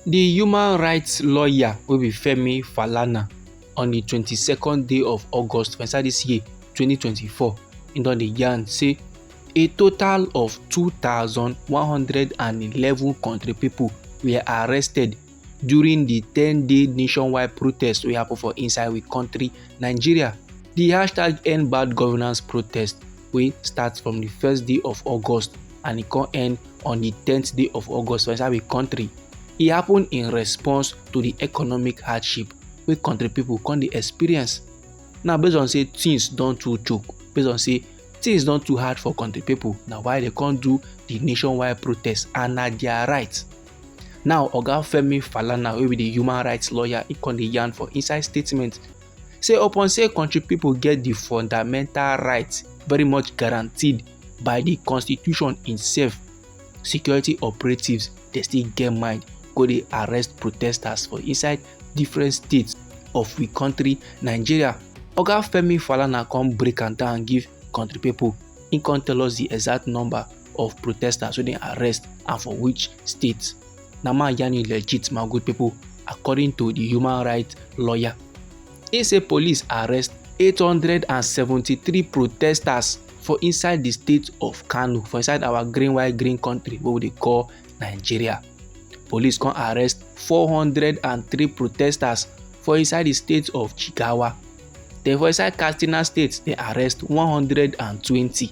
di human rights lawyer wey be femi falana on di twenty second day of august for inside dis year twenty twenty four im don dey yarn say a total of two thousand one hundred and eleven kontri pipo were arrested during di ten day nationwide protest wey happen for inside we kontri nigeria di hashtag end bad governance protest wey start from di first day of august and e come end on di tenth day of august for inside we kontri e happen in response to di economic hardship wey kontri pipo come dey experience now based on say things don too choke based on say things don too hard for kontri pipo na why dem come do di nationwide protest and na dia right Now Oga Femi Falana wey be the human rights lawyer he come dey yarn for inside statement say upon say country people get the fundamental rights very much guaranteed by the constitution itself security operatives dey still get mind go dey arrest protesters for inside different states of we country nigeria oga femi falana come break am down give country people he come tell us the exact number of protesters wey dem arrest and for which state na ma yarn you legit my good people according to the human rights lawyer he say police arrest 873 protesters for inside the state of kano for inside our green white green country wey we dey call nigeria police come arrest 403 protesters for inside the state of jigawa then for inside katsina state they arrest 120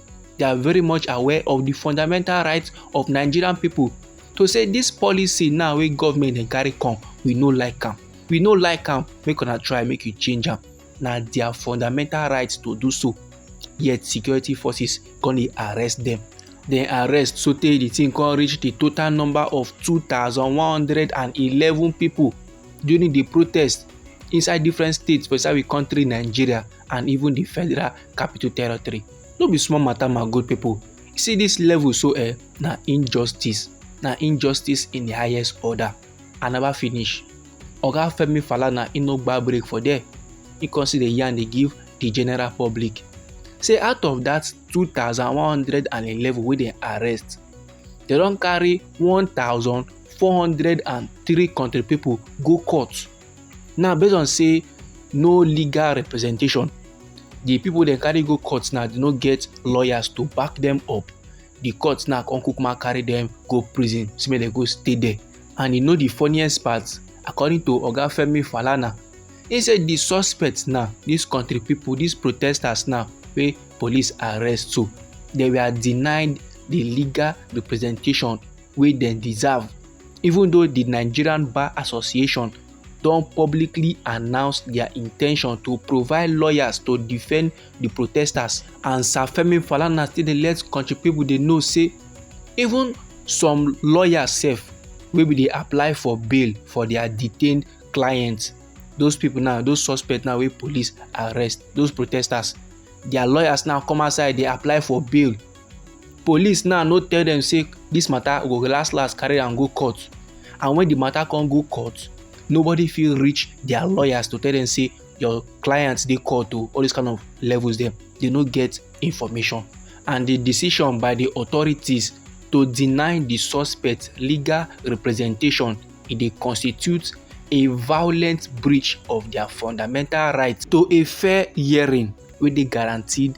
they are very much aware of the fundamental rights of nigerian people to say this policy now wey government dey carry come we no like am we no like am make una try make you change am na their fundamental right to do so yet security forces come dey arrest them dem arrest sotey the thing come reach the total number of two thousand one hundred and eleven people during the protest inside different states for inside the country nigeria and even the Federal Capital Territory. No be small matter my good people. See this level so eh, na injustice, na injustice in the highest order. I never finish. Oga Femi Falana e no gba break for there. He come see the yarn dey give the general public. Say out of that 2,111 wey dem arrest, dem don carry 1,000 403 country people go court Now based on say no legal representation, the people dem carry go court now they no get lawyers to back them up. The court now come kukuma carry them go prison say make dem go stay there. And you know the funniest part according to Oga Femi Falana he say the suspects now these country people these protesters now wey police arrest so they were denied the legal representation wey dem deserve even though di nigerian bar association don publicly announce dia in ten tion to provide lawyers to defend di protesters. and sir femi falana still dey let kontri pipo dey know say even some lawyers sef wey bin dey apply for bail for dia detained clients those pipo now those suspects now wey police arrest those protesters dia lawyers now come outside dey apply for bail. police now no tell dem say this matter go last last carry am go court and when the matter come go court nobody feel reach their lawyers to tell them say your clients they call to all these kind of levels them they no get information and the decision by the authorities to deny the suspect legal representation it they constitute a violent breach of their fundamental right to a fair hearing wey dey guaranteed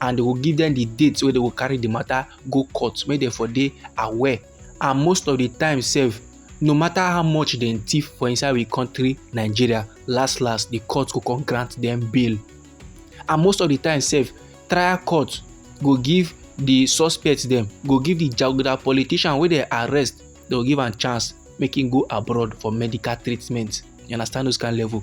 and they go give them the date wey they go carry the matter go court make dem for dey aware and most of the time sef no matter how much dem thief for inside we country nigeria last last the court go come grant them bail and most of the time sef trial court go give the suspect dem go give the jaguda politician wey dem arrest dem go give am chance make him go abroad for medical treatment you understand those kind level.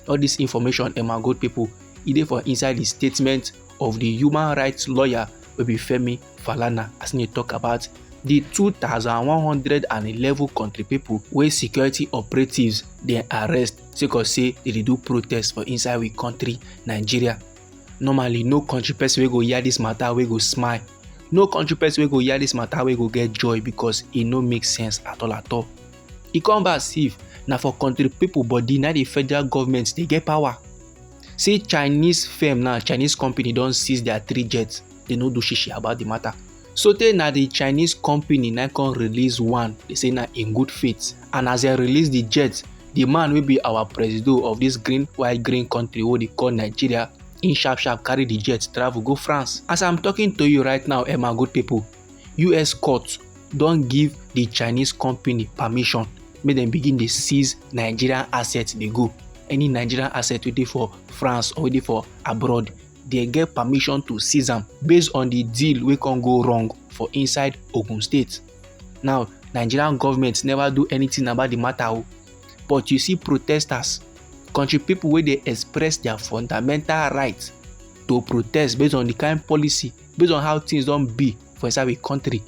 all this information and my good people e dey for inside the statement of the human rights lawyer wey be femi falana as he talk about the 2,111 country people wey security operatives dey arrest sake of say they dey do protest for inside we country nigeria normally no country person wey go hear this matter wey go smile no country person wey go hear this matter wey go get joy because e no make sense at all at all e come be as if na for country people body na the federal government dey get power say chinese firm now chinese company don seize their three jets they no do shishi about the matter so tey na the chinese company na come release one they say na in good faith and as they release the jet the man wey be our presido of this green white green country wey dey call nigeria in sharp sharp carry the jet travel go france as i'm talking to you right now emma good people us court don give di chinese company permission make dem begin dey seize nigerian assets dey go any nigerian asset wey dey for france or wey dey for abroad dey get permission to seize am based on di deal wey con go wrong for inside ogun state now nigerian government never do anything about di matter o but you see protesters country pipo wey dey express dia fundamental right to protest based on di kain policy based on how things don be for inside we country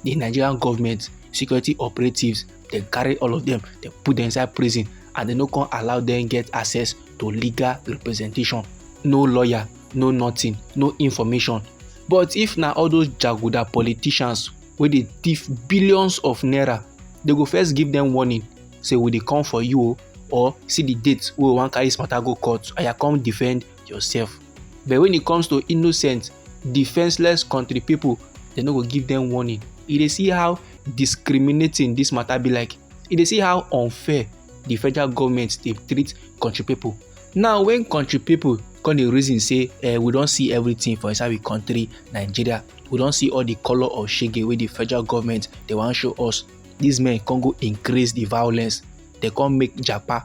the nigerian government security operatives dem carry all of them dem put them inside prison and dem no come allow them get access to legal representation no lawyer no nothing no information but if na all those jaguda politicians wey dey thief billions of naira they go first give them warning say we dey come for you o or see the date wey we wan carry this matter go court aya come defend yourself but when it comes to innocent defenseless country people they no go give them warning you dey see how discriminating this matter be like you dey see how unfair the federal government dey treat country people now when country people come dey reason say eh, we don see everything for inside we country nigeria we don see all the colour of shege wey the federal government dey wan show us these men come go increase the violence dey come make japa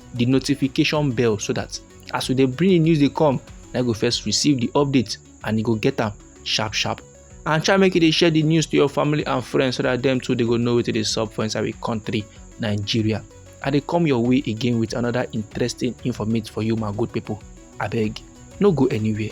the notification bell so that as we dey bring the news dey come na you go first receive the update and you go get am sharp sharp and try make you dey share the news to your family and friends so that dem too dey go know wetin dey sup for inside we country nigeria i dey come your way again with another interesting informate for you my good people abeg no go anywhere.